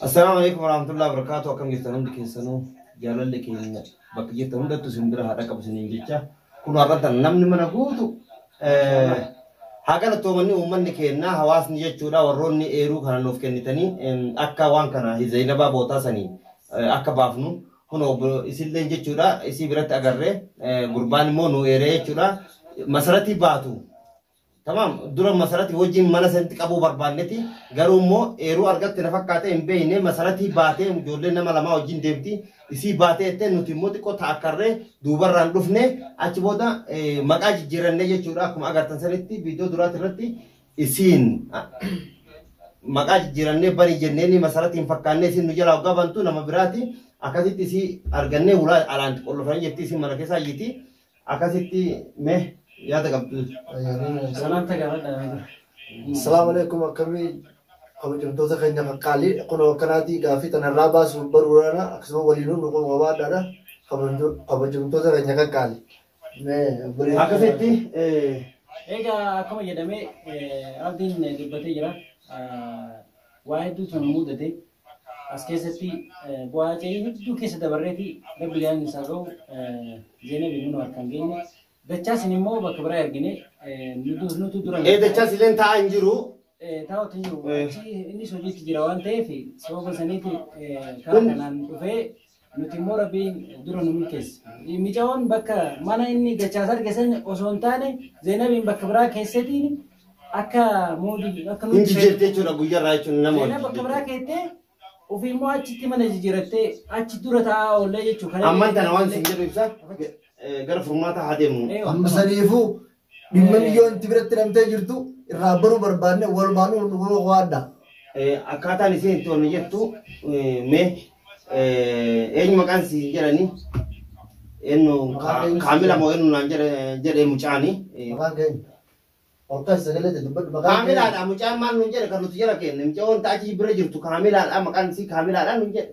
Assalaamu alaikum warahmatullahi wabarakatuh akkam jirtan hundi keessanuu jaalalli keenya bakka jirtan hundattu isin bira haa dhaqabu isiniin jecha kun har'atan namni mana guutu haa galatoomanni uummanni keenya hawaasni jechuudha warroonni eeruu kana nuuf kennitanii akka waan kana hizaynabaa bootaa sanii akka baafnu kun isillee jechuudha isii biratti agarree gurbaan immoo nu eeree jechuudha masaratii baatu Tamaam dura masarati wajjin mana sanitti qabuu barbaanneti garuu immoo eeruu argatte na fakkaatee hin beekne masaratii baatee ijoollee nama lamaa wajjin deemti isii baatee jettee nuti immoo xiqqoo taakkarree duubarraan dhufne achi booda eh, maqaa jijjiirannee jechuudha akkuma agartan sanitti viidiyoo duraati irratti isiin ah, maqaa jijjiirannee bani jenneen masaratiin fakkaannee isin nu jalaa hoggaa bantu nama biraati akkasitti isii argannee ulaa alaan qollofanii jetti isin mana keessaa iyyiti Akkasitti mee yaada qabdu. Salaamta gaafadha. Salaamu alaikum akkamii kabajamtoota keenya qaqqaalii kunoo akkanaatii gaaffii tanarraa baasuuf baruudhaana akkasuma waliinuu nu qabaadhaadha kabajamtoota keenya qaqqaalii. Akkasitti Egaa akkuma jedhame rabbiin dubbatee jira. Waa hedduutu nu mudate. As keessatti bu'aa aja'ii hedduu keessa dabarreeti rabbi gaa'in isaa ga'u Zeenabi nunu harkaan geenye. Dachaa sin immoo bakka biraa ergine nutu dura. Ee dachaa sileen taa'aa hin jiru. Taa'utu hin jiru. Achi innis hojiitti jira waan ta'eef sababa saniiti karaa kanaan dhufee Nuti immoo Rabbiin dura nu milkeesse. Micaoon bakka mana inni dachaas arge san osoo hin taane Zeenabiin bakka biraa keessetiin akka moodii akka Hin nuti jijjiirte jechuudha guyyarraa jechuun nama Zeenab wajjin bakka biraa jechuudha. keessee ofii immoo achitti mana jijjiirattee achi dura taa'aa oollee jechuudha. Amman tana waan isin jedhu ibsa eh, gara furmaataa haa deemnu. Amma saniifuu Dhimma miyyoo inti biratti hidhamtee jirtu irraa baruu barbaadne walumaan nu gurguruu qofaadha. Akkaataan isheen itti ol jettu mee eenyu maqaan si jedhani eenyu kaamila moo eenyu naan jedhe mucaani. Maqaan keenya. Olkaan sagalee jedhu badhu maqaan keenya. Kaamilaadha mucaan maal nun jedhe kan nuti jala keenne mucaa wanta achi bira jirtu kaamilaadha maqaan isii kaamilaadha nun jedhe.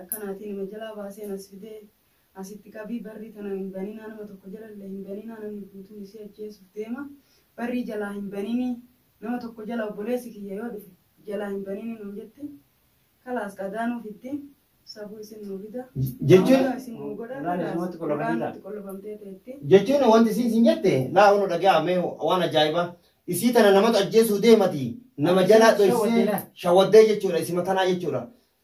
akkanaatii nama jalaa baaseen as fidee as itti qabii barrii tana hin baninaa nama tokko jalallee hin baninaa namni guutuun isii ajjeesuuf deema barrii jalaa hin baninii nama tokko jala obboleessi kiyya yoo dhufe jalaa hin baninii nuun jetti kalaas qadaa nuu fiddi safuu isin nuu fida Jechuun- Amma isin nuu godha Ulaa kalaas namatti qullafamtee ulaa ta'a. nutti qullafamtee teetti jechuun wanti isiin siin jette laa unu dhagaa mee waan ajaa'ibaa isii tana namatu ajjeesuu deemati nama jalaa dhoysee shawaddee jechuudha isima tanaa jechuudha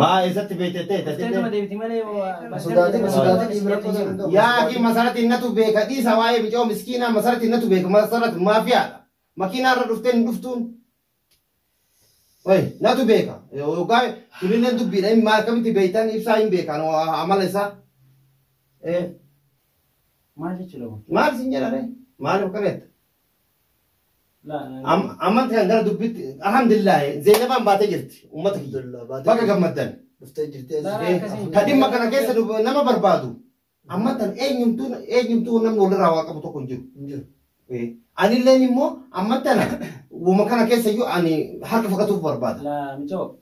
Maa eessatti beekte ta'e Dhuftee nama tatillee? deebiti malee yoo Hin sodaatin, hin sodaatin, dhiibni rakkoo isaa danda'u. Yaa akii masarati innatu beeka dhiisa waa'ee bicoo miskiinaa masarati innatu beeka masarati maafiyaadha. Makiinaa irra dhuftee hin dhuftuun. Oye, natu beeka. Yookaan kunillee dubbiidha. Inni maal akkamitti beektan ibsaa hin beekan amala isaa. Eh, Maal jechuudha kun? Maal isin jedhare? Maaliif akka beekta? Am- Ammatti kan gara dubbitti alhamdulillah Zeenabaan baatee jirti uummata kiyya. Alhamdulillah, baatee Baga jirti. gammaddan. Dhuftee jirti. Laala akkasii. Ka dhimma kana keessa dub- nama barbaadu ammattan eenyumtuu eenyumtuu namni walirraa waa qabu tokko hin jiru. Hin jiru. Eh, Anilleen immoo ammattan uuma kana keessa iyyuu ani harka fudhatuuf barbaada. Laa michoo.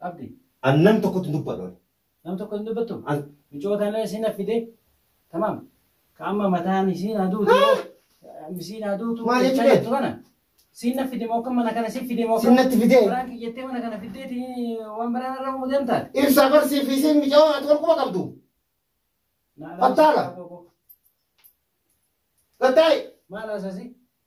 Abdi. An nam tokkotti hin dubbadhu ani. Nam tokko hin dubbattu? An. Micoo tana isin affide tamam ka amma mataan isiin haa duutu isiin haa duutu Maal jechaa jechuudha? jirtu kana siin na fide moo kan mana kana si fide moo Siin natti fidee? biraan kiyyattee mana kana fiddeeti waan biraan irra umu deemtaan Ibsa barsii fi isiin micoo ati wal quba qabdu. Battaala. Gattaa'i. maal haasasi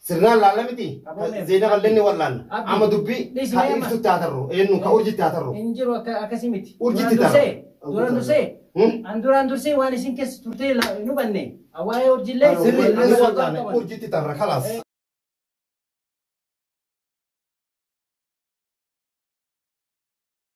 Sirnaan laalla miti. Qaboomee. Zeena bal'inni wal'aanna. Abdi. Amma dubbii Dhis kan meema. ibsutti haa tarru. Eenyu ka urjitti haa tarru. Hin jiru akka akkasii miti. Urjitti Duraan dursee, ta'a. duraan dursee, Hmm? an duraan dursee waan isin keessa turtee la- hin hubanne. Waa'ee urjillee. Sirri Sirri ani wal'aanne qaban. urjitti tarra kalaas.